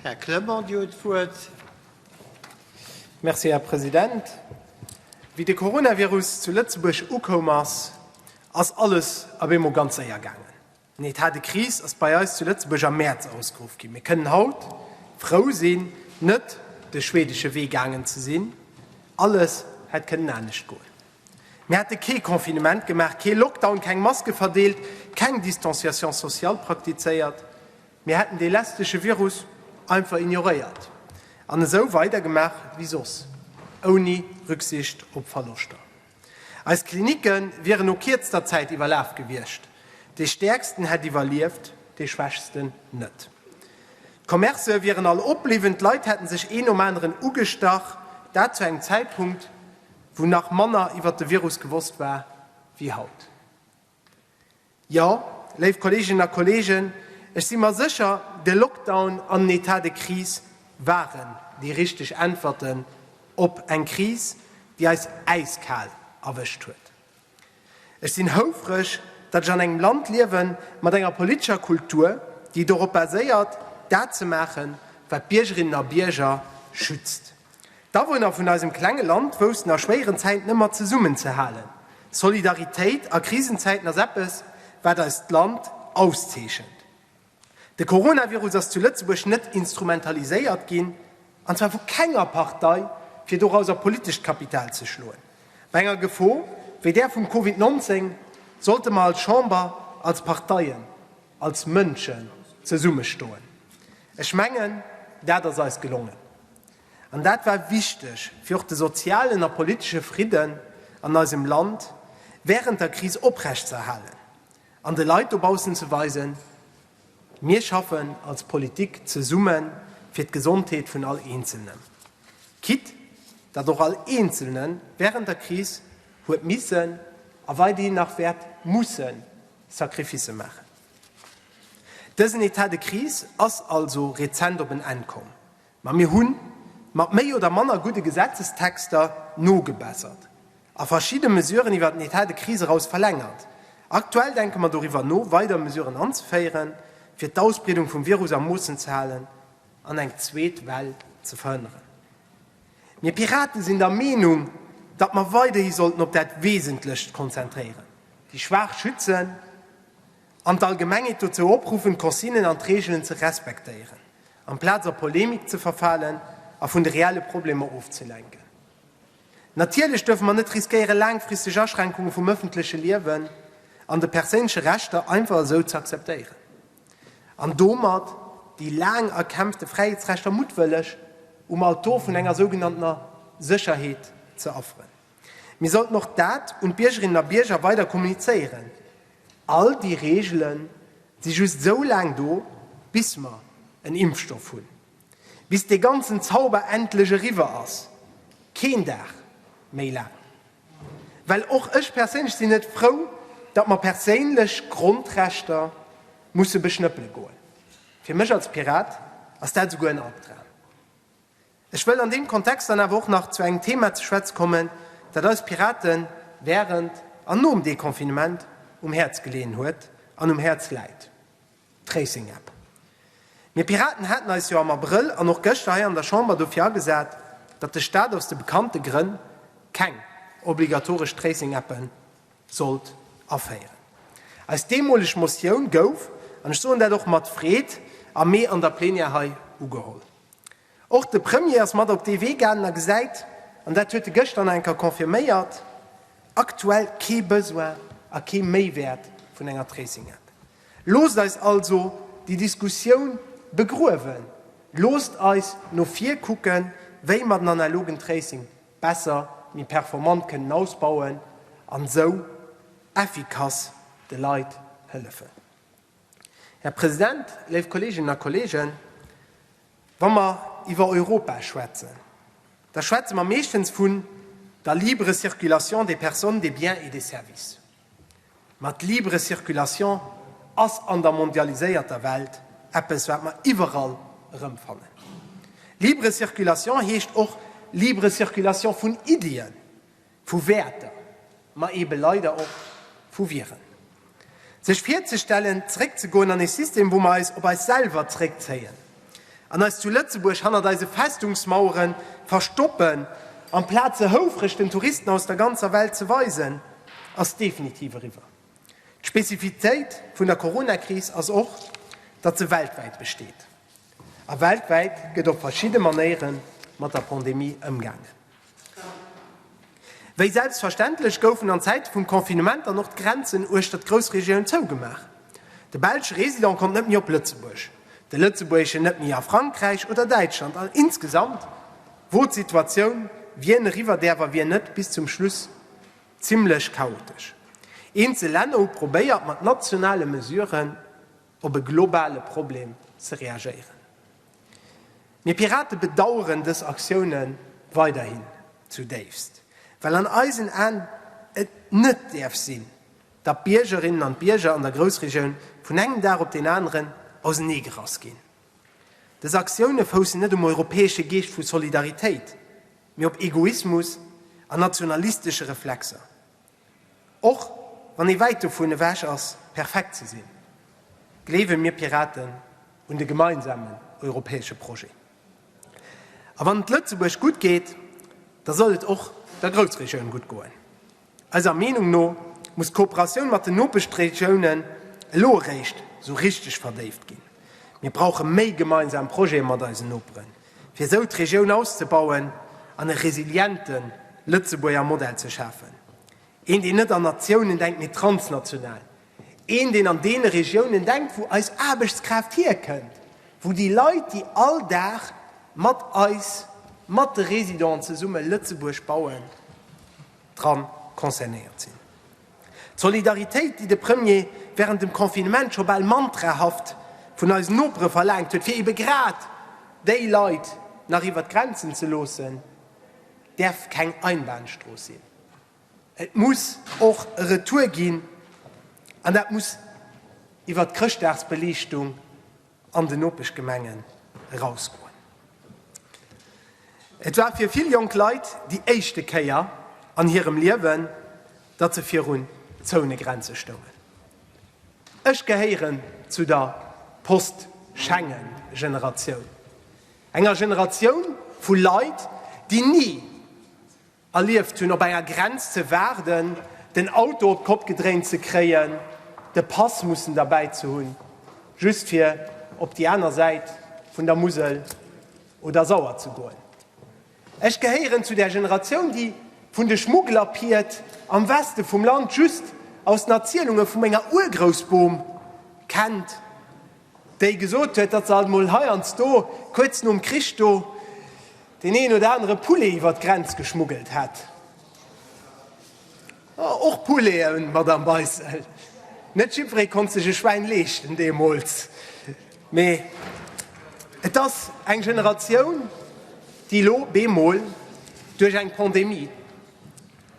Här Clement, Dir hutt d'Wuert. Merci, Här President. Wéi de Coronavirus zu Lëtzebuerg ukoum ass, ass alles op eemol ganz séier gaangen. Den Etat de crise ass bei eis zu Lëtzebuerg am Mäerz ausgeruff ginn. Mir kënnen haut frou sinn, net de schwedesche Wee gaangen ze sinn. Alles hätt kënnen anescht goen. Mir hätte kee Confinement gemaach, kee Lockdown, keng Maske verdeelt, keng Distanciation sociale praktizéiert. Mir hätten dee lästege Virus einfach ignoréiert an esou weidergemaach wéi soss, ouni Rücksicht op Verloschter. Eis Klinicke wieren no kierzter Zäit iwwerlaf gewiescht, dee Stäerksten hätt iwwerlieft, dee Schwächsten net. D'Commercë wieren all opbliwwen, d'Leit hätte sech een nom aneren ugestach, dat zu engem Zäitpunkt, wou nach manner iwwer de Virus gewosst war wéi haut. Jo, léif Kolleeginnen a Kolleegen, ech si mer sécher, de Lockdown an en Etat de crise waren déi richteg Äntwerten op eng Kris, déi eis äiskal erwëscht huet. Ech sinn houfreg, datt ech an engem Land liewe mat enger politescher Kultur, déi dorop baséiert, dat ze maachen, wat d'Biergerinnen a Bierger schützt. D'Awunner vun eisem klenge Land woussten a schwéieren Zäiten ëmmer zesummen ze halen. Solidaritéit a Krisenzäiten ass eppes, wat eist Land auszeechent. De Coronavirus ass zu Lëtzebuerg net instrumentaliséiert ginn, an zwar vu kenger Partei, fir dorauser politescht Kapital ze schloen. Bei enger Gefor wéi där vum Covid 19 sollte mer als Chamber, als Parteien als Mënschen zesummestoen. Ech mengen, dat ass eis gelongen. An dat war wichteg, fir och de sozialen a politesche Fridden an eisem Land wärend der Kris oprechtzerhalen an de Leit dobaussen ze weisen, Mir schaffen als Politik zesumme fir d'Gesondheet vun all Eenzelnem. Quitte datt och all Eenzelne wärend der Kris huet missen a weiderhin nach wäert mussen Sacrificë maachen. Dësen Etat de crise ass also rezent op en Enn komm, ma mir hu mat méi oder manner gudde Gesetzestexter nogebessert a verschidde Mesuren iwwer den Etat de crise eraus verlängert. Aktuell denke mer doriwwer no, weider Mesuren anzeféieren, fir d'Ausbreedung vum Virus a Moossen ze halen an eng zweet Well ze verhënneren. Mir Piraten sinn der Meenung, datt mer weiderhi sollten op dat Wesentlecht konzentréieren, déi Schwaach schützen an d'Allgemengheet dozou opruffen, d'Consignen an d'Reegelen ze respektéieren, amplaz a Polemik ze verfalen a vun de reelle Problemer ofzelenken. Natierlech duerfe mer net riskéieren, laangfristeg Aschränkunge vum ëffentleche Liewen an de perséinleche Rechter einfach esou z'akzeptéieren. an domat déi laang erkämpfte Fräiheetsrechter muttwëlleg um Altor vun enger sougenanntener Sécherheet ze offeren. Mir sollten och dat un d'Biergerinnen a Bierger weider kommunizéieren, All déi Reegele si just sou laang do, bis mer en Impfstoff hunn, bis dee ganzen Zauber endlech eriwwer ass, keen Dag méi laang. Well och ech perséinlech sinn net frou, datt mer perséinlech Grondrechter musse beschnëppele goen. Fir mech als Pirat ass dat esouguer en Albdram. Ech wëll an deem Kontext dann awer och nach zu engem Thema ze schwätze kommen, dat eis Pirate während an nom Deconfinement um Häerz geleeën huet an um Häerz läit. Tracing App. Mir Piraten haten eis jo am Abrëll an och gëschter hei an der Chamber dofir agesat, datt de Staat aus de bekannte Grënn keng obligatoresch Tracing Appe sollt aféieren. Eis deemoleg Motioun gouf, an ech soen dat och mat Freed, am Mee an der Plenière hei ugeholl. Och de Premier ass mat op dee Wee gaangen a gesäit, an dat huet e gëschter nach eng Kéier confirméiert, aktuell kee Besoin a kee Méiwäert vun enger Tracing-App. Loosst eis also déi Diskussioun begruewen. Loosst eis no vir kucken, wéi mer den analogen Tracing besser, méi performant kënnen ausbauen an esou effikass de Leit hëllefen. Här President, léif Kolleeginnen a Kolleegen, wa mer iwwer Europa schwätzen, da schwätze mer meeschtens vun der libre circulation des personnes, des biens et des services. Ma d'libre Circulation ass an der mondialiséierter Welt eppes, wat mer iwwerall erëmfannen. Libre Circulation heescht och libre Circulation vun Iddien. Vu Wäerter, ma eebe leider och vu Viren. Sech virzestellen, zeréckzegoen an ee System, wou mer eis op eis selwer zeréckzéien an eis zu Lëtzebuerg hannert eise Festungsmauere verstoppen, amplaz se houfreg den Touristen aus der ganzer Welt ze weisen, ass definitiv eriwwer. D'Spezifitéit vun der Coronakris ass och, datt se weltwäit besteet. A weltwäit gëtt op verschidde Manéiere mat der Pandemie ëmgaangen. Wéi selbstverständlech goufen an Zäite vum Confinement dann och d'Grenzen uechter d'Groussregioun zougemaach. De belsche Resident konnt net méi op Lëtzebuerg, de lëtzebuergeschen net méi a Frankräich oder Däitschland an insgesamt wor d'Situatioun, wien eriwwer däerf a wien net, bis zum Schluss zimmlech chaotesch. Eenzel Länner hu probéiert mat nationale Mesuren, op e globale Problem ze reagéieren. Mir Pirate bedaueren dës Aktioune weiderhin zu déifst, well an eisen Aen et net däerf sinn, datt d'Biergerinnen an d'Bierger an der Groussregioun vun engem Dag op deen aneren auseneegerass ginn. Dës Aktioune foussen net um europäesche Geescht vu Solidaritéit, mee op Egoismus an nationalistesche Reflexer. Och wann ee wäit dovun ewech ass, perfekt ze sinn, gleewe mir Piraten un de gemeinsamen europäesche Projet. A wann et Lëtzebuerg gutt geet, da soll et och der Groussregioun gutt goen. Eiser Meenung no muss d'Kooperatioun mat den Nopeschregioune elo eréischt esou richteg verdéift ginn. Mir brauche méi gemeinsam Projete mat eisen Noperen. fir esou d'Regioun auszebauen an e resiliente Lëtzebuerger Modell ze schafen, een deen net an Natiounen denkt, mee transnational, een deen an deene Regiounen denkt, wou eis Aarbechtskraaft hierkënnt, wou déi Leit, déi all Dag mat eis, mat de Residenten zesumme Lëtzebuerg bauen, dra concernéiert sinn. D'Solidaritéit, déi de Premier während dem Confinement scho bal mantrahaft vun eisen Nopere verlaangt huet, fir ebe grad déi Leit nach iwwert d'Grenzen ze loossen, däerf keng Einbahnstrooss sinn. Et muss och e Retour ginn, an dat muss iwwert d'Chrëschtdagsbeliichtung, an den Nopeschgemengen erausgoen. Et war fir vill jonk Leit déi éischte Kéier an hirem Liewen, datt se virun Zounegrenze stoungen. Ech gehéieren zu der Post-Schengen-Generatioun, enger Generatioun vu Leit, déi ni, Erlieft hunn, op enger Grenz ze waarden, den Auto op d'Kopp gedréint ze kréien, de Pass mussen derbäi ze hunn, just fir op déi aner Säit vun der Musel oder Sauer ze goen. Ech gehéieren zu där Generatioun, déi vun de Schmugglerpied am Weste vum Land just aus den Erzielunge vu menger Urgroussbom kennt. déi gesot huet, datt se alt emol heiansdo kuerz nom Krich do deen een oder anere Poulet iwwer d'Grenz geschmuggelt hätt. Och Pouleten, Madamm Beissel, net jiddweree konnt sech e Schwäin leeschten deemools. Mee et ass eng Generatioun, déi elo bemol duerch eng Pandemie,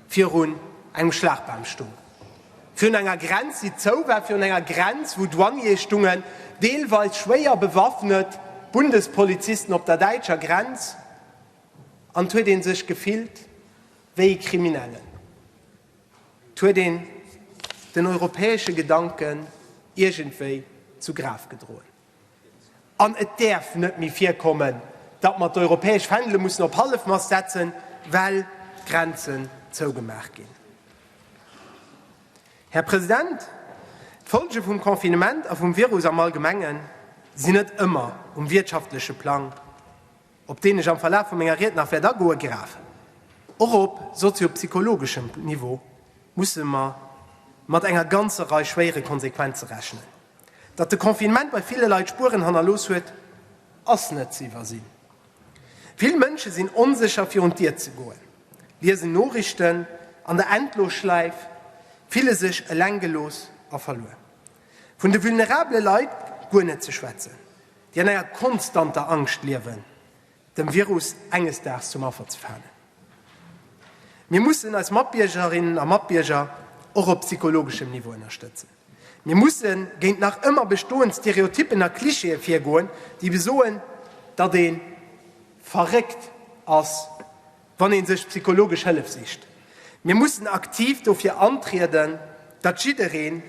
virun engem Schlagbam stung, virun enger Grenz, déi zou war, virun enger Grenz, wou Douaniere stungen, deelweis schwéier bewaffnet Bundespolizisten op der däitscher Grenz, an 't huet ee sech gefillt wéi e Kriminellen. 't huet een den europäesche Gedanken iergendwéi zu Graf gedroen. An et däerf net méi virkommen, datt mer d'europäesch Fändele mussen op Hallefmast setzen, well d'Grenzen zougemaach ginn. Här President, d'Folge vum Confinement a vum Virus am Allgemenge sinn net ëmmer um wirtschaftleche Plang, op deen ech am Verlaf vu menger Ried nach wäert agoen, grav. Och op soziopsychologeschem Niveau musse mer mat enger ganzer Rei schwéiere Konsequenze rechnen. Datt de Confinement bei ville Leit Spueren hannerlooss huet, ass net ze iwwersinn. Vill Mënsche sinn onsécher virun d'Dier ze goen, liesen Noriichten an der Endlosschläif, fille sech eleng gelooss a verluer. Vun de vulnerabele Leit guer net ze schwätzen, déi an enger konstanter Angscht liewen, dem Virus enges Daags zum Affer ze falen. Mir mussen eis Matbiergerinnen a Matbierger och op psychologeschem Niveau ënnerstëtzen. Mir musse géint nach ëmmer bestoend Stereotyppen a Klischeeë virgoen, déi besoen, datt ee verréckt ass, wann ee sech psychologesch Hëllef sicht. Mir mussen aktiv dofir antrieden, datt jiddereen,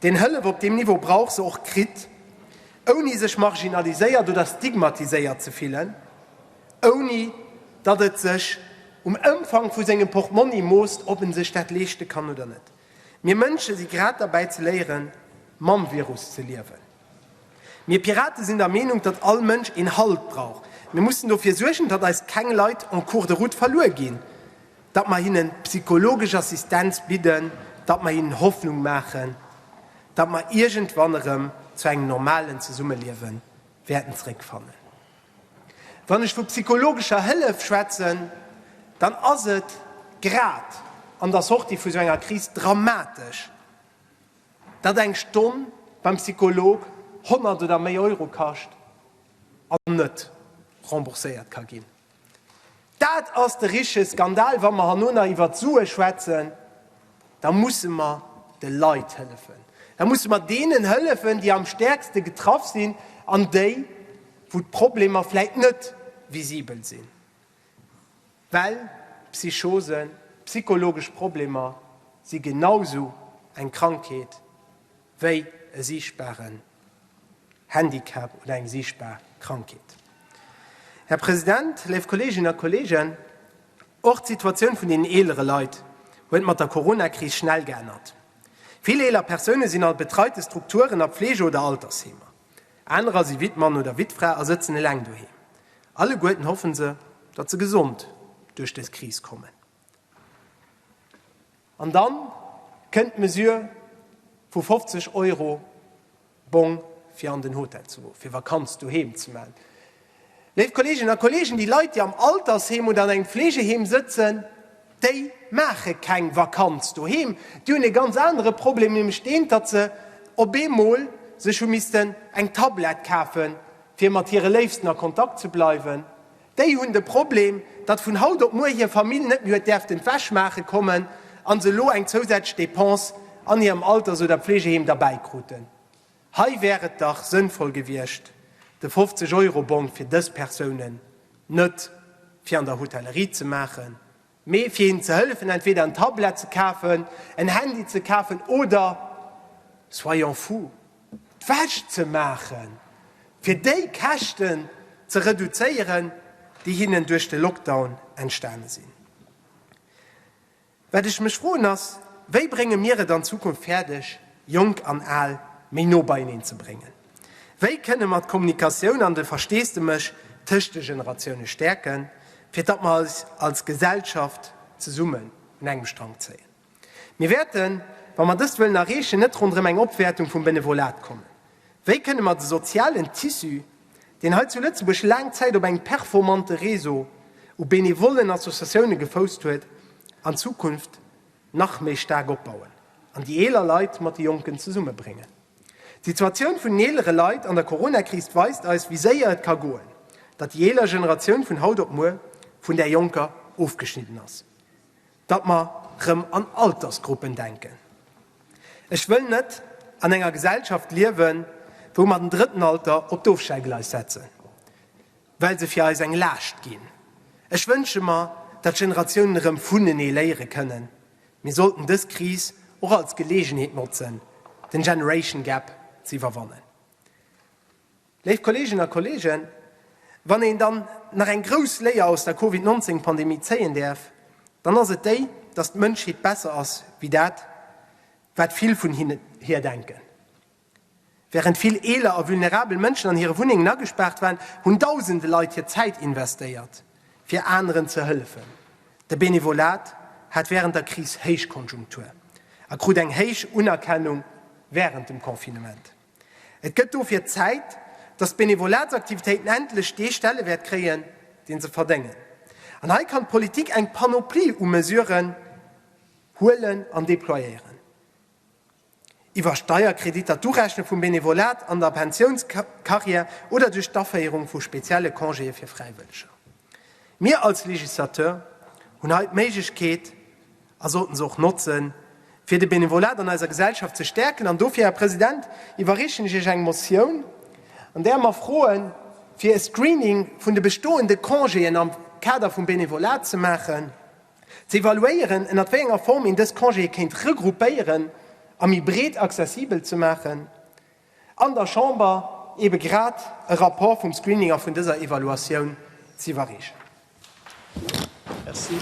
deen Hëllef op deem Niveau brauch, se och kritt, ouni sech marginaliséiert oder stigmatiséiert ze fillen, ouni datt et sech um Ëmfang vu sengem Portmonni moosst, ob en sech dat leeschte kann oder net. Mir Mënsche si grad derbäi ze léieren, mam Virus ze liewen. Mir Pirate sinn der Meenung, datt all Mënsch een Halt brauch. Mir mussen dofir suergen, datt eis keng Leit en cours de route verluer ginn, datt mer hinne psychologesch Assistenz bidden, datt mer hinnen Hoffnung maachen, datt mer iergendwann erëm zu engem normalen Zesummeliewe wäerten zeréckfannen. Wann ech vu psychologescher Hëllef schwätzen, dann ass et grad an der Sortie vu sou enger Kris dramatesch, datt eng Stonn beim Psycholog 100 oder méi Euro kascht an net rembourséiert ka ginn. Dat ass de richtege Skandal! Wa mer herno nach iwwert Sue schwätzen, da musse mer de Leit hëllefen. Da musse mer deenen hëllefen, déi am stäerkste getraff sinn an déi, wou d'Problemer vläicht net visibel sinn, well Psychosen, psychologesch Problemer si genau esou eng Krankheet wéi e siichtbaren Handicap oder eng siichtbar Krankheet. Här President, léif Kolleeginnen a Kolleegen, och d'Situatioun vun deenen eelere Leit huet mat der Corona-Kris schnell geännert. Vill eeler Persoune sinn a betreite Strukturen, a Pflege oder Altersheemer. Anerer si Wittmann oder Wittfra a sëtzen eleng doheem. Alleguerten hoffe se, datt se gesond duerch dës Kris kommen. An dann kënnt d'Mesure vu 50 Euro Bong fir an den Hotel ze goen, fir Vakanz doheem ze maachen. Léif Kolleeginnen a Kolleegen, déi Leit, déi am Altersheem oder an engem Fleegeheem sëtzen, déi maache keng Vakanz doheem. Déi hunn ee ganz anere Problem, nämlech deen, datt se op eemol sech hu missten eng Tablett kafen, fir mat hire Léifsten a Kontakt ze bleiwen, Déi hunn de Problem, datt vun haut op muer hir Famill net méi huet däerften d'Wäsch maache kommen an se elo eng zousätzlech Dépense an hirem Alters oder Pflegeheem derbäi kruten. Hei wär et dach sënnvoll gewiescht, de 50 Euro Bong fir dës Persounen net fir an der Hotellerie ze maachen, Mee fir hinnen ze hëllefen, entweder en Tablet ze kafen, en Handy ze kafen oder, soyons fous, d'Wäsch ze maachen, fir déi Käschten ze reduzéieren, déi hinnen duerch de Lockdown entstane sinn. Wat ech mech froen ass, Wéi brénge mir et an Zukunft fäerdeg, Jonk an Al méi no beieneen ze bréngen? Wéi kënne mer d'Kommunikatioun an de Versteesdemech tëscht de Generatioune stäerken, fir datt mer eis als Gesellschaft zesummen un engem Strang zéien? Mir wäerten, wa mer dëst wëllen erreechen, net ronderëm eng Opwäertung vum Benevolat kommen. Wéi kënne mer de sozialen Tissu, deen hei zu Lëtzebuerg laang Zäit op engem performante Réseau u benevollen Associatioune gefousst huet, an Zukunft nach méi staark opbauen an déi eeler Leit mat de Jonken zesummebréngen? D'Situatioun vun den eelere Leit an der Coronakris weist eis, wéi séier et ka goen, datt déi eeler Generatioun vun haut op muer vun där jonker ofgeschnidden ass, datt mer erëm an Altersgruppen denken. Ech wëll net an enger Gesellschaft liewen, wou mer den drëtten Alter op d'Ofstellgleis setzen, well se fir eis eng Laascht ginn. Ech wënsche mer, datt d'Generatiounen erëm vunenee léiere kënnen. Mir sollten dës Kris och als Geleegenheet notzen, den Generation Gap ze iwwerwannen. Léif Kolleeginnen a Kolleegen, wann een dann nach eng grouss Léier aus der Covid 19 Pandemie zéien däerf, dann ass et déi, dass d'Mënschheet besser ass wéi dat, wat vill vun hir denken. Während vill eeler a vulnerabel Mënschen an hire Wunnengen agespaart waren, hunn dausende Leit hir Zäit investéiert, fir aneren ze hëllefen. De Benevolat hat während der Kris Héichkonjunktur a krut eng héich Unerkennung während dem Confinement. Et gëtt dofir Zäit, dass d'Benevolatsaktivitéiten endlech dee Stellewäert kréien, deen se verdéngen. An hei kann d'Politik eng Panoplie u Mesuren huelen an déployéieren. iwwer Steierkreditter, d'Urechne vum Benevolat an der Pensiounscarrière oder duerch d'Aféierung vu spezielle Congéë fir Fräiwëlleger. Mir als Législateur hunn hei d'Méiglechkeet, a sollten se och notzen, fir de Benevolat an eiser Gesellschaft ze stäerken. An dofir, Här President, iwwerreechen ech Iech eng Motioun, an där mer froe fir e Screening vun de bestoende Congéen am Kader vum Benevolat ze maachen, Ze evaluéieren, ënnert wéi enger Form een dës Congéë kéint regroupéieren a méi breet accessibel ze maachen. An der Chamber eebe grad e Rapport vum Screening a vun dëser Evaluatioun z'iwwerreechen. Merci.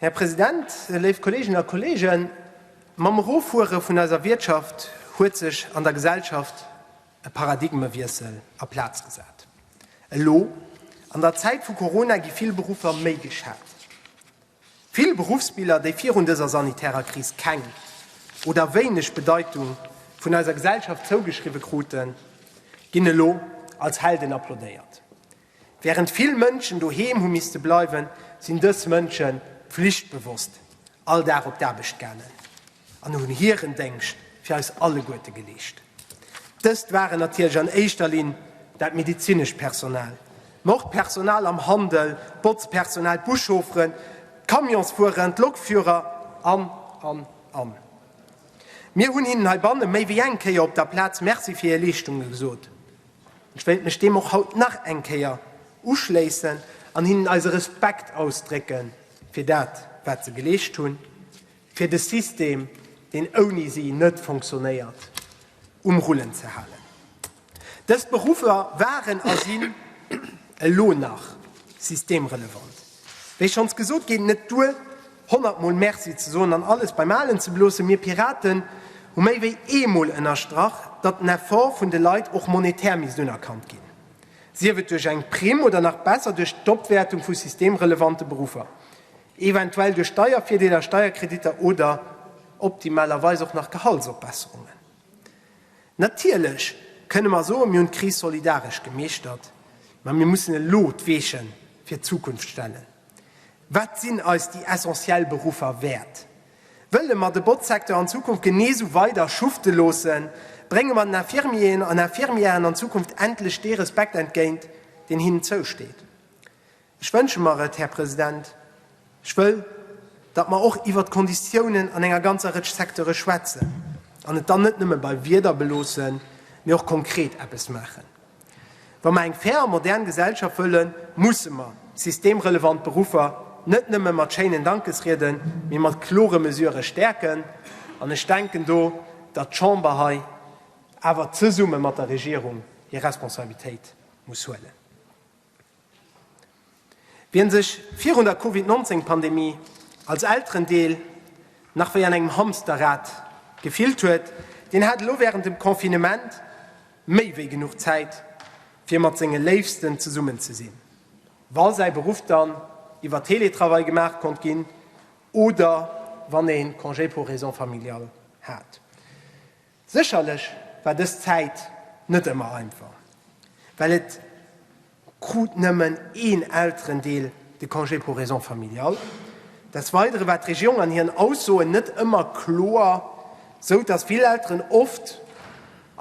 Här President, léif Kolleeginnen a Kolleegen, mam Eroffuere vun eiser Wiertschaft huet sech an der Gesellschaft e Paradigmewiessel a Plaz gesat. Elo, an der Zäit vu Corona, gi vill Beruffer méi geschat. Vill Beruffsbiller, déi virun dëser sanitärer Kris keng oder wéineg Bedeitung vun eiser Gesellschaft zougeschriwwe kruten, ginn elo als Helden applaudéiert. Wärend vill Mënschen doheem hu misste bleiwen, sinn dës Mënsche pflichtbewosst all Dag op d'Aarbecht gaangen an hunn hiren Déngscht fir eis alleguerte geleescht. Dëst waren natierlech an éischter Linn dat medezinescht Personal, ma och d'Personal am Handel, d'Botzpersonal, d'Buschaufferen, d'Camionsfueren, d'Lokführer an, an, an. Mir hunn hinnen heibanne méi wéi eng Kéier op der Plaz Merci fir hir Leeschtungen gesot. Ech wéilt mech deem och haut nach eng Kéier uschléissen an hinnen eise Respekt ausdrécke fir dat, wat se geleescht hunn, fir de System, deen ouni si net fonctionnéiert, um Rullen ze halen. Dës Beruffer waren a sinn elo nach systemrelevant. Wéi schonns gesot, geet net duer, 100 mol Merci ze soen an alles beim Alen ze beloossen. Mir Piraten hu méi wéi ee mol ënnerstrach, datt den Effort vun de Leit och monetär misst unerkannt ginn, sief et duerch eng Primm oder nach besser duerch d'Opwäertung vu systemrelevante Beruffer, eventuell duerch Steiervirdeeler, Steierkreditter oder optimalerweis och nach Gehaltsopbesserungen. Natierlech kënne mer soen, mir hunn d'Kris solidaresch gemeeschtert, mä mir mussen elo d'Weechen fir d'Zukunft stellen. Wat sinn eis déi essentiell Beruffer wäert? Wëlle mer de Botzsecteur an Zukunft genee sou weider schufte loossen? Brénge mer den Infirmieren an Infirmièren an Zukunft endlech dee Respekt entgéint, deen hinnen zousteet? Ech wënsche mer et, Här President, ech wëll, datt mer och iwwert d'Konditiounen an enger ganzer Rëtsch Secteure schwätzen an et dann net nëmme bei Wierder beloossen, mee och konkret eppes maachen. Wa mer eng fair a modern Gesellschaft wëllen, musse mer systemrelevant Beruffer net nëmme mat schéinen Dankesrieden, mee mat klore Mesurë stäerken. An ech denken do, datt d'Chamber hei awer zesumme mat der Regierung hir Responsabilitéit muss huelen. Wien sech virun der Covid 19 Pandemie als Elterendeel nach wéi an engem Hamsterrad gefillt huet, deen hat elo wärend dem Confinement méi wéi genuch Zäit fir mat senge Léifsten zesummen ze sinn, wa säi Beruff dann iwwer Teletravail gemaach konnt ginn oder wann ee Congé pour raisons familiales hat. Sécherlech war dës Zäit net ëmmer einfach, well et krut nëmmen een Elterendeel de Congé pour raisons familiales. Des Weidere war d'Regierung an hiren Aussoen net ëmmer kloer, sou datt vill Elteren oft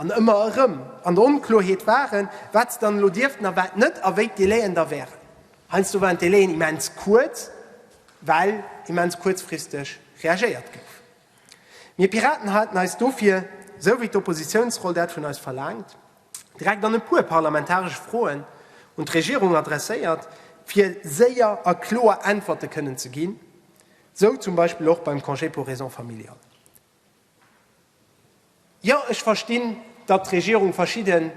an ëmmer erëm an der Onkloerheet waren, wat se dann elo dierften a wat net a wéi d'Délai'en da wären. Heiansdo waren d'Délai'en immens kuerz, well immens kuerzfristeg reagéiert gouf. Mir Piraten haten eis dofir, esou wéi d'Oppositiounsroll dat vun eis verlaangt, direkt an e puer parlamentaresche Froen un d'Regierung adresséiert, fir séier a kloer Äntwerte kënnen ze ginn, esou zum Beispill och beim Congé pour raisons familiales. Jo, ech verstinn, datt d'Regierung verschidde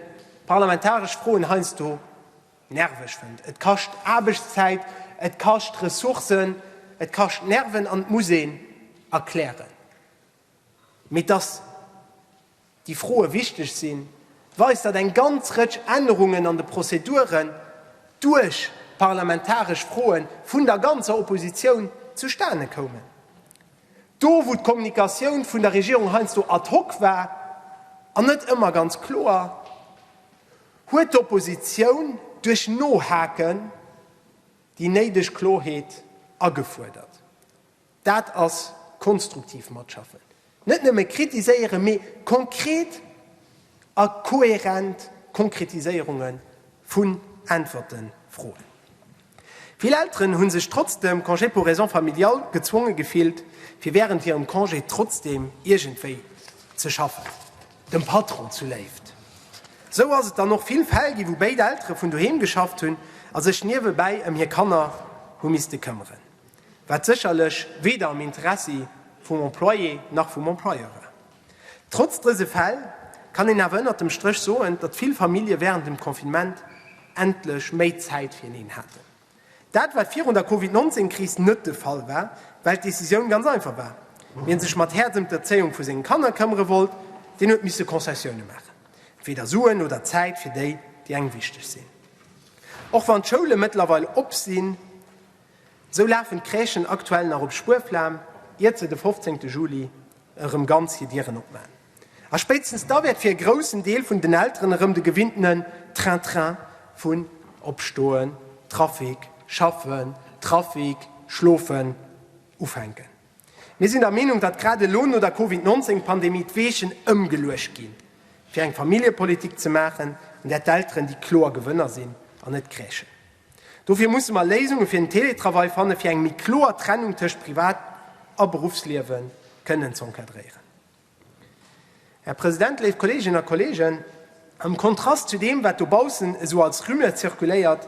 parlamentaresch Froen heiansdo nerveg fënnt. Et kascht Aarbechtszäit, et kascht Ressourcen, et kascht Nerven an et muss een erklären. Mee datt déi Froe wichteg sinn, weist, datt eng ganz Rëtsch Ännerungen an de Prozeduren duerch parlamentaresch Froe vun der ganzer Oppositioun zustane koumen. Do wou d'Kommunikatioun vun der Regierung heiansdo ad hoc war an net ëmmer ganz kloer, huet d'Oppositioun duerch Nohaken déi néideg Klorheet agefuerdert. Dat ass konstruktiv Matschaffen, net nëmme kritiséieren, mee konkret a kohärent Konkretiséierunge vun Äntwerte froen. Vill Elteren hunn sech trotz dem Congé pour raisons familiales gezwonge gefillt, fir wärend hirem Congé trotzdeem iergendwéi ze schaffen, dem Patron zu Léift. Esou ass et dann och vill Fäll ginn, wou béid Eltere vun doheem geschafft hunn a sech niewebäi ëm hir Kanner hu misste këmmeren, wat sécherlech weder am Interessi vum Employé nach vum Employeur war. Trotz dëse Fäll kann een awer ënnert dem Stréch soen, datt vill Famillje wärend dem Confinement endlech méi Zäit fireneen haten. Dat wat virun der Covid 19 Kris net de Fall war, well d'Decisioun ganz einfach war, Wien sech mat Häerz ëm d'Erzéiung vu senge Kanner këmmere wollt, deen huet misse Concessioune maachen, entweeder Suen oder Zäit fir déi, déi engem wichteg sinn. Och wann d'Schoule mëttlerweil op sinn, Sou lafen d'Crèchen aktuell nach op Spuerflam, iert se de 15 Juli erëm ganz hir Dieren opmaan. A spéitstens da wäert fir e groussen Deel vun den Elteren erëm de gewinntenen Train-train vun Opstoen, Trafic, Schaffen, Trafic, Schlofen ufänken. Mir sinn der Meenung, datt grad elo no der Covid 19 Pandemie d'Weechen ëmgeluecht ginn, fir eng Familljepolitik ze maachen, an där d'Elteren déi kloer Gewënner sinn an net d'Crèchen. Dofir musse mer Léisunge fir den Teletravail fanne fir eng méi kloer Trennung tëscht Privat a Beruffsliewe kënnen ze encadréieren. Här President, léif Kolleeginnen a Kolleegen, am Kontrast zu deem, wat dobaussen esou als Rumeur zirkuléiert,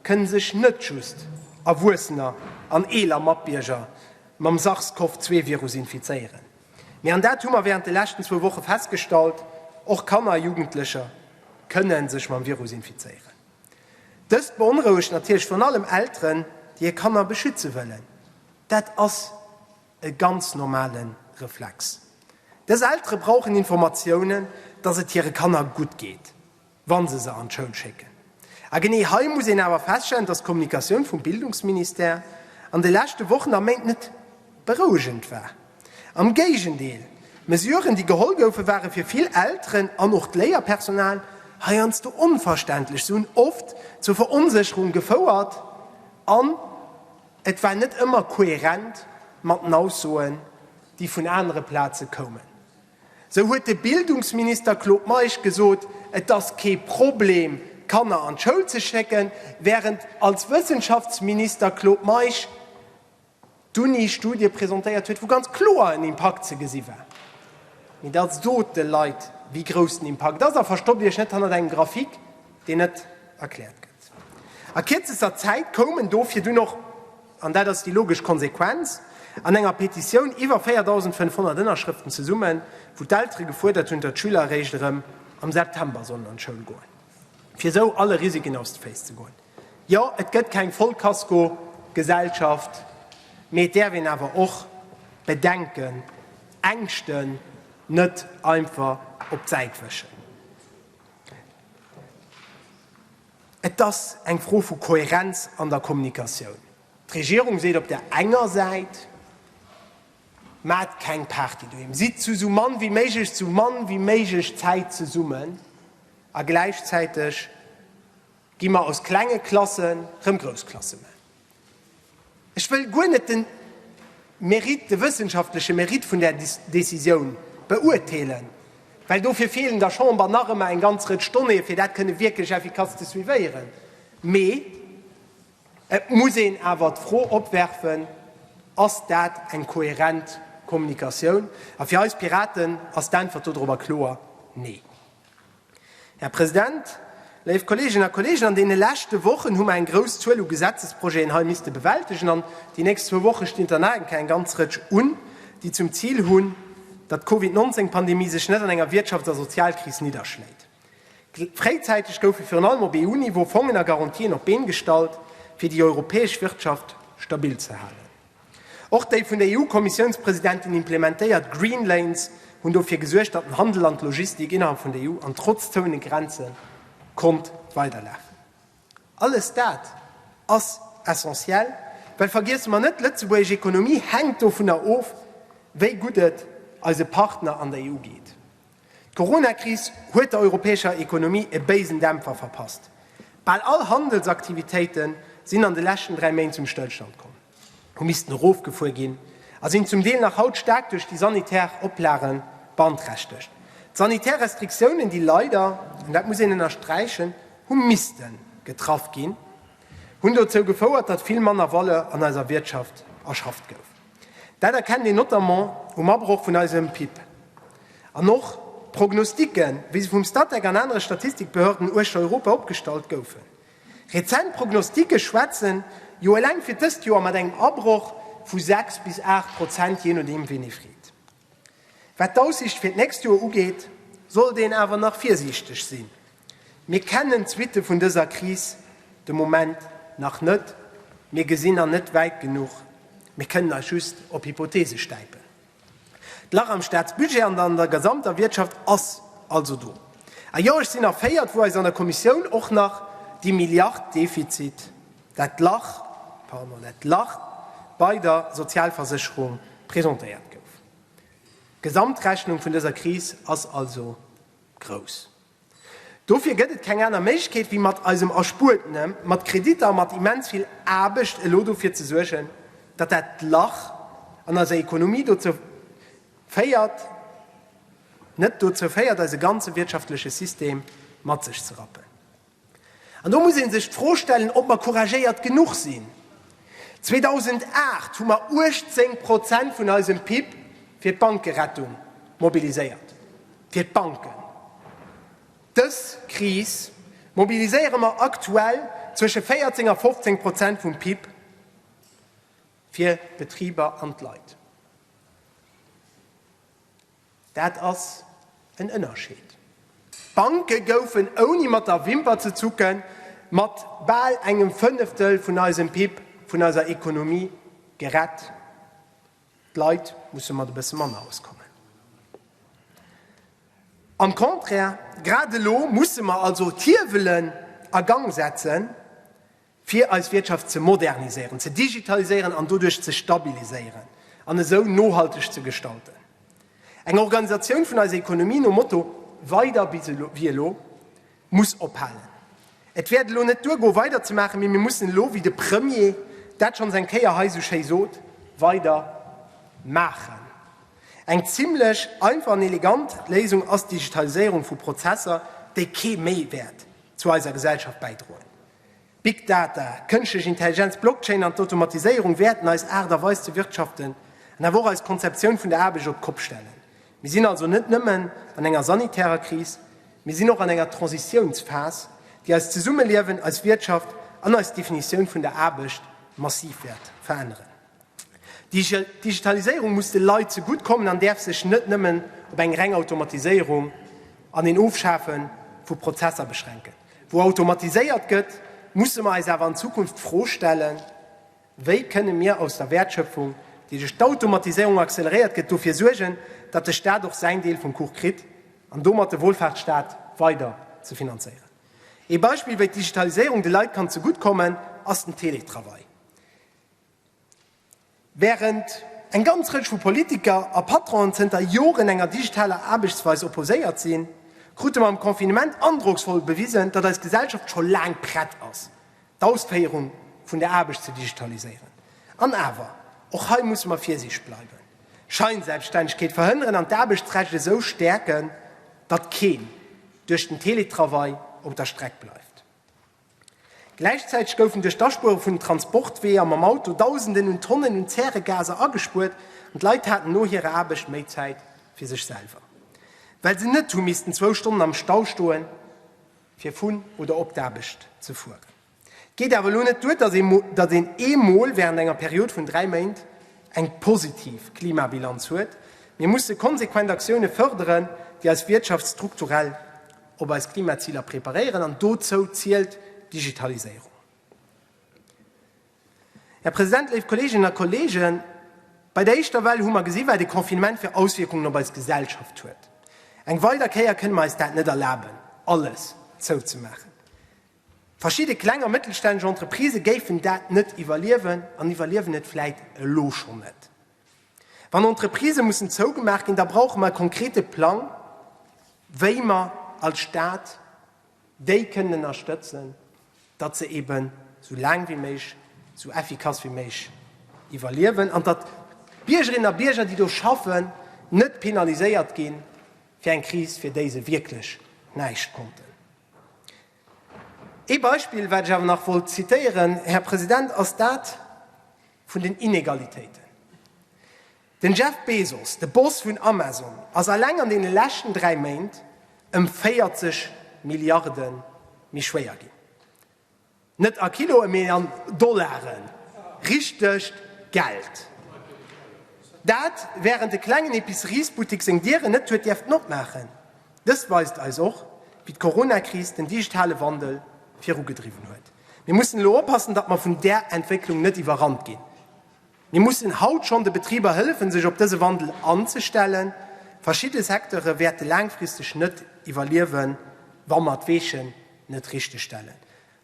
kënne sech net just Erwuessener an eeler Matbierger mam SARS-CoV-2-Virus infizéieren, mee, an dat hu mer während de leschten zwou Woche festgestallt, och Kanner a Jugendlecher kënne sech mam Virus infizéieren. Dëst beonrouegt natierlech virun allem Elteren, déi hir Kanner beschütze wëllen. Dat ass e ganz normale Reflex. Dës Eltere brauchen Informatiounen, dass et hire Kanner gutt geet, wa se se an d'Schoul schécken. A genee hei muss een awer feststellen, dass d'Kommunikatioun vum Bildungsministère an de leschte Wochen a Méint net berouegend war. Am Géigendeel, d'Mesuren, déi geholl goufen, ware fir vill Elteren an och d'Léierpersonal heiansdo onverständlech. Se hunn oft zur Veronsécherung gefouert an et war net ëmmer koherent mat den Aussoen, déi vun anere Plaze koumen. Sou huet de Bildungsminister Claude Meisch gesot, et ass kee Problem, d'Kanner an d'Schoul ze schécken, wärend als Wëssenschaftsminister Claude Meisch, d'Uni Studie presentéiert huet, wou ganz kloer en Impakt ze gesi war. Mee da sot de Leit, wéi grouss den Impakt ass a verstoppt Iech net hannert engem Grafik, deen net erkläert gëtt. A kierzester Zäit koum en dofir dunn och, an dat ass déi logesch Konsequenz, an enger Petitioun, iwwer 4.500 Ënnerschrëften zesummen, wou d'Eltere gefuerdert hunn, datt d'Schüler eréischt erëm am September sollen an d'Schoul goen, fir esou alle Risiken aus de Féiss ze goen. Jo, et gëtt keng Vollkaskogesellschaft, mee et däerf een awer och Bedenken, Ängschten net einfach op d'Säit wëschen. Et ass eng Fro vu Kohärenz an der Kommunikatioun. D'Regierung seet op der enger Säit, Maacht keng Party doheem, sidd zu esou mann wéi méiglech, esou mann wéi méiglech Zäit zesummen, a gläichzäiteg, Gi mer aus klenge Klassen rëm grouss Klasse man. Ech wëll guer net den Mérite, de wëssenschaftleche Mérite vun där Décisioun beurteelen, well dofir feelen der Chamber nach ëmmer eng ganz Rëtsch Donnéeë, fir dat kënne wierklech efficace ze suivéieren. Mee et muss een awer d'Fro opwerfen, Ass dat eng kohärent Kommunikatioun? A fir eis Piraten ass d'Äntwert dodrop a kloer Nee. Här President, léif Kolleeginnen a Kolleegen, an deene leschte Wochen hu mer eng grouss Zuel u Gesetzesprojeten hei misste bewältegen, an déi nächst zwou Woche stinn der nach eng Kéier eng ganz Rëtsch un, déi zum Zil hunn, datt d'Covid 19 Pandemie sech net an enger Wirtschafts a Sozialkris nidderschléit. Fréizäiteg goufe virun allem op EU-Niveau Fongen a Garantien op d'Been gestallt, fir déi europäesch Wirtschaft stabil ze halen. Och déi vun der EU-Kommissiounspresidentin implementéiert Green Lanes hunn dofir gesuergt, datt den Handel an d'Logistik innerhalb vun der EU an trotz zoune Grenze konnt weiderlafen. Alles dat ass essentiell, well vergiesse mer net, d'lëtzebuergesch Ekonomie hänkt dovunner of, wéi gutt et eise Partner an der EU geet. D'Corona-Kris huet der europäescher Ekonomie e béisen Dämpfer verpasst. Bal all Handelsaktivitéite sinn an de leschten dräi Méint zum Stëllstand komm, hu missten erofgefuer ginn a sinn zum Deel nach haut staark duerch déi sanitär Oplage beanträchtegt. D'sanitär Restriktiounen, déi leider, an dat muss een ënnersträichen, hu misste getraff ginn, hunn dozou gefouert, datt vill manner Valeur an eiser Wirtschaft erschafft gouf. Dat erkennt een notamment um Abroch vun eisem PIB. An och d'Prognostiken, wéi se vum Statec an anere Statistikbehörden uechter Europa opgestallt goufen. Rezent Prognostike schwätzen jo eleng fir d'ëst Joer mat engem Abroch vu 6 bis 8 Prozent, jee nodeem ween ee freet. Wat d'Aussiicht fir d'nächst Joer ugeet, sollt een awer nach virsiichteg sinn. Mir kennen d'Suitte vun dëser Kris de Moment nach net, mir gesinn an net wäit genuch, mir kënnen eis just op Hypotheese stäipen. D'Lach am Staatsbudget an an der gesamter Wirtschaft ass also do. A jo, ech sinn erféiert, wou eis an der Kommissioun och nach déi Milliard Defizit, dat Lach, pardon, dat Lach bei der Sozialversécherung presentéiert gouf. D'Gesamtrechnung vun dëser Kris ass also grouss. Dofir gëtt et keng aner Méiglechkeet, wéi mat eisem erspuertene, mat Kreditter, mat immens vill Aarbecht elo dofir ze suergen, datt dat Lach an eiser Ekonomie dozou féiert, net dozou féiert, eise ganze wirtschaftleche System mat sech ze rappen. An do muss ee sech d'Fro stellen, ob mer couragéiert genuch sinn. 2008 hu mer 18 Prozent vun eisem PIB fir d'Bankerettung mobiliséiert, fir d'Banken. Dës Kris mobiliséiere mer aktuell zwësche 14 a 15 Prozent vum PIB fir d'Betriber an d'Leit. Dat ass en Ënnerscheed. D'Banke goufen, ouni mat der Wimper ze zucken, mat bal engem Fënneftel vun eisem PIB, vun eiser Ekonomie gerett. D'Leit musse mat e bësse manner auskommen. Am Contraire, grad elo musse mer also d'Hiewelen a Gang setzen, fir eis Wirtschaft ze moderniséieren, ze digitaliséieren an doduerch ze stabiliséieren an esou nohalteg ze gestalten. Eng Organisatioun vun eiser Economie nom Motto Weider wéi elo muss ophalen. Et wäert elo net duer goen, weider ze maachen, mee mir mussen elo, wéi de Premier dat schonns eng Kéier hei esou schéi sot, weider maachen. Eng zimlech einfach an elegant Léisung ass d'Digitaliséierung vu Prozesser, déi kee Méiwäert zu eiser Gesellschaft bäidroen. Big Data, kënschtlech Intelligenz, Blockchain an d'Automatiséierung wäerten eis Aart a Weis ze wirtschaften an awer och eis Konzeptioun vun der Aarbecht op d'Kopp stellen. Mir sinn also net nëmmen an enger sanitärer Kris, mir sinn och an enger Transitiounsphas, déi eist Zesummeliewen, eis Wirtschaft an eis Definitioun vun der Aarbecht massiv wäert veränneren. D'Digitaliséierung muss de Leit zegutt kommen an däerf sech net nëmmen op eng reng Automatiséierung an een Ofschafe vu Prozesser beschränken. Wou automatiséiert gëtt, musse mer eis awer an Zukunft d'Fro stellen, Wéi kënne mir aus der Wäertschöpfung, déi duerch d'Automatiséierung acceleréiert gëtt, dofir suergen, datt de Staat och säin Deel vum Kuch kritt an domat de Wohlfahrtsstaat weider ze finanzéieren? Ee Beispill, wéi d'Digitaliséierung de Leit kann zegutt kommen, ass den Teletravail. Wärend eng ganz Rëtsch vu Politiker a Patronen zënter Joren enger digitaler Aarbechtsweis opposéiert sinn, krute mer am Confinement androcksvoll bewisen, datt eis Gesellschaft scho laang prett ass, d'Ausféierung vun der Aarbecht ze digitaliséieren. An awer, och hei musse mer virsiichteg bleiwen, Scheinselbststännegkeet verhënneren an d'Aarbechtsrecht esou stäerken, datt keen duerch den Teletravail op der Streck bleift. Gläichzäiteg goufen duerch d'Aspuere vun den Transportweeër mam Auto Dausenden un Tonnen un Zäregaser agespuert an d'Leit haten no hirer Aarbecht méi Zäit fir sech selwer, well se net hu missten zwou Stonnen am Stau stoen, fir vun oder op d'Aarbecht ze fueren. Et geet awer elo net duer, datt een ee Mol während enger Period vun dräi Méint eng positiv Klimabilanz huet. Mir musse konsequent Aktioune fërderen, déi eis Wirtschaft strukturell op eis Klimaziler preparéieren, an dozou zielt d'Digitaliséierung. Här President, léif Kolleeginnen a Kolleegen, bei der éischter Well hu mer gesi wat e Confinement fir Auswierkungen op eis Gesellschaft huet. Eng weider Kéier kënne mer eis dat net erlaben, alles zouzemaachen. Verschidde kleng a mëttelstänneg Entreprisë géifen dat net iwwerliewen an iwwerliewen et vläit elo schonn net. Wann Entreprisë mussen zougemaach ginn, da brauche mer e konkrete Plang, wéi mer als Stat déi kënnen ënnerstëtzen, datt se eeben esou laang wéi méiglech, esou effikass wéi méiglech iwwerliewen an datt d'Biergerinnen a Bierger, déi do schaffen, net penaliséiert gi fir eng Kris, fir déi se wierklech näischt konnten. Ee Beispill, wat ech awer nach wollt zitieren, Här President, ass dat, vun den Inegalitéiten. Den Jeff Bezos, de Boss vun Amazon, ass alleng an deene leschten dräi Méint ëm 40 Milliarde méi schwéier ginn. Net a Kiloe mee an Dollaren, richtegt Geld. Dat, wärend e klengen Epiceriesbuttek seng Dieren net huet dierften opmaachen. Dëst weist eis och, wéi d'Corona-Kris den digitale Wandel virugedriwwen huet. Mir mussen elo oppassen, datt mer vun där Entwécklung net iwwerrannt ginn. Mir mussen haut schonn de Betriber hëllefen, sech op dëse Wandel anzestellen. Verschidde Secteure wäerte laangfristeg net iwwerliewen, wa mer d'Weechen net richteg stellen.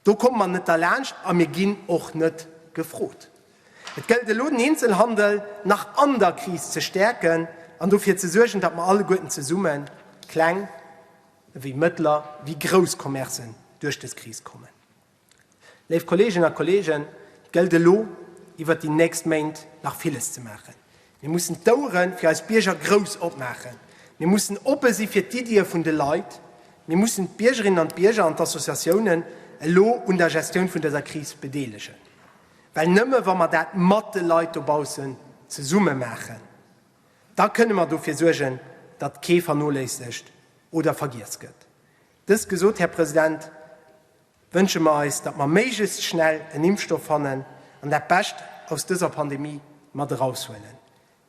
Do komme mer net derlaanscht a mir ginn och net gefrot. Et gëllt elo, den Eenzelhandel nach an der Kris ze stäerken an dofir ze suergen, datt mer alleguerten zesummen, kleng, wéi mëttler wéi grouss Commercen duerch dës Kris kommen. Léif Kolleegen a Kolleegen, et gëllt elo iwwert déi nächst Méint nach villes ze maachen. Mir mussen d'Ouere fir eis Bierger grouss opmaachen, mir mussen oppe si fir d'Iddië vun de Leit, mir mussen d'Biergerinnen an d'Bierger an d'Associatiounen elo un der Gestioun vun dëser Kris bedeelegen. Well nëmme wa mer dat mat de Leit dobaussen zesumme maachen, Da kënne mer dofir suergen, datt kee vernoléissegt oder vergiess gëtt. Dëst gesot, Här President, wënsche mer eis, datt mer méiglechst schnell en Impfstoff fannen an dat Bescht aus dëser Pandemie mat eraushuelen.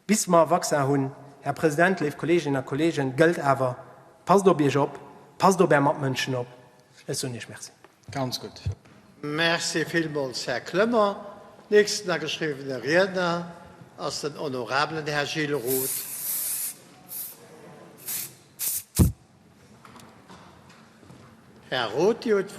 Bis mer e Vaccin hunn, Här President, léif Kolleeginnen a Kolleegen, gëllt awer, Passt op Iech op, passt op Är Matmënschen op. Ech soen Iech Merci. Ganz gutt. Merci villmools, Här Clement. Nächsten ageschriwwene Riedner ass den honorabelen Här Gilles Roth. Här Roth, Dir hutt d'Wuert.